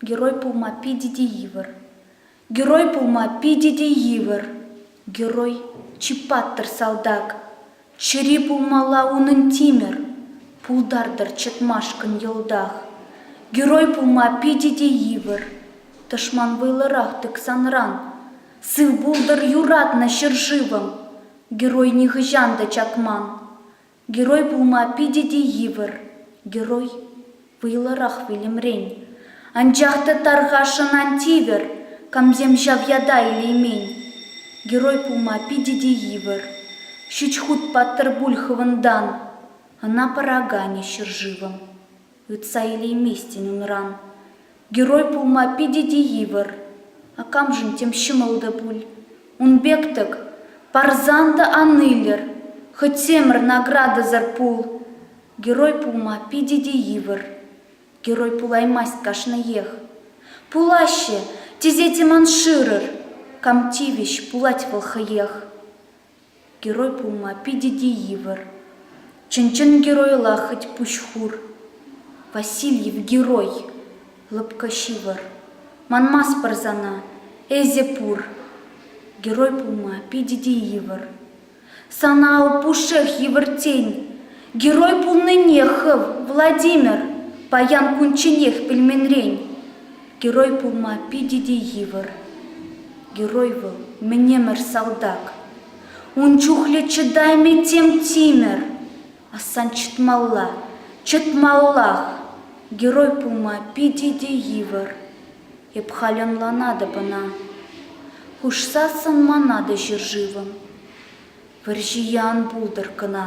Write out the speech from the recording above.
герой пулма питӗ те йывӑр герой пулма питӗ те йывӑр герой чи паттӑр салтак чӗри пулмалла унӑн тимӗр пултартӑр чӑтмашкӑн йӑлтах герой пулма питӗ те йывӑр тӑшман вӑйлӑрах тӑк санран сыв пултӑр юратнӑ ҫӗршывӑм герой нихӑҫан та чакман Герой пулма питӗ те йывӑр. Герой пуйлӑрах вилӗмрен. Анчах та тархасшӑн ан тивӗр, камсем ҫав ята илеймен. Герой пулма питӗ те йывӑр. Ҫич хут паттӑр пуль хӑвӑнтан, ӑна параканӗ ҫӗршывӑм. Ытса илейместӗн унран. Герой пулма питӗ те йывӑр. А камшӑн тем ҫӑмӑл та пуль. Ун пек-тӗк, парсан та ан илӗр, хӑтьсемӗр наградӑсӑр пул. Герой пулма питӗ те йывӑр. Герой пулаймасть кашниех. Пулаҫҫӗ, тесе те ман шырӑр. Кам тивӗҫ, пулать вӑл хӑех. Герой пулма питӗ те йывӑр. Чӑн-чӑн геройла хӑть пуҫ хур. Васильев герой, лӑпкӑ ҫывӑр. Манмастпӑр сана, эсӗ пур. Герой пулма питӗ те йывӑр. Сана ав пушшех йывӑртен. Герой пулнине хӑв, Владимир, паян кунчченех пӗлменрен. Герой пулма питӗ те йывӑр. Герой вӑл, мӗнемӗр салтак. Ун чухлӗ чӑтаймӗ тем тимӗр. Ассан чӑтмалла, чӑтмаллах. Герой пулма питӗ те йывӑр. Эп халь ӑнланатӑп ӑна. Хушсассӑн манатӑ ҫӗршывӑм. Вӑрҫӑ ан пултӑр кӑна.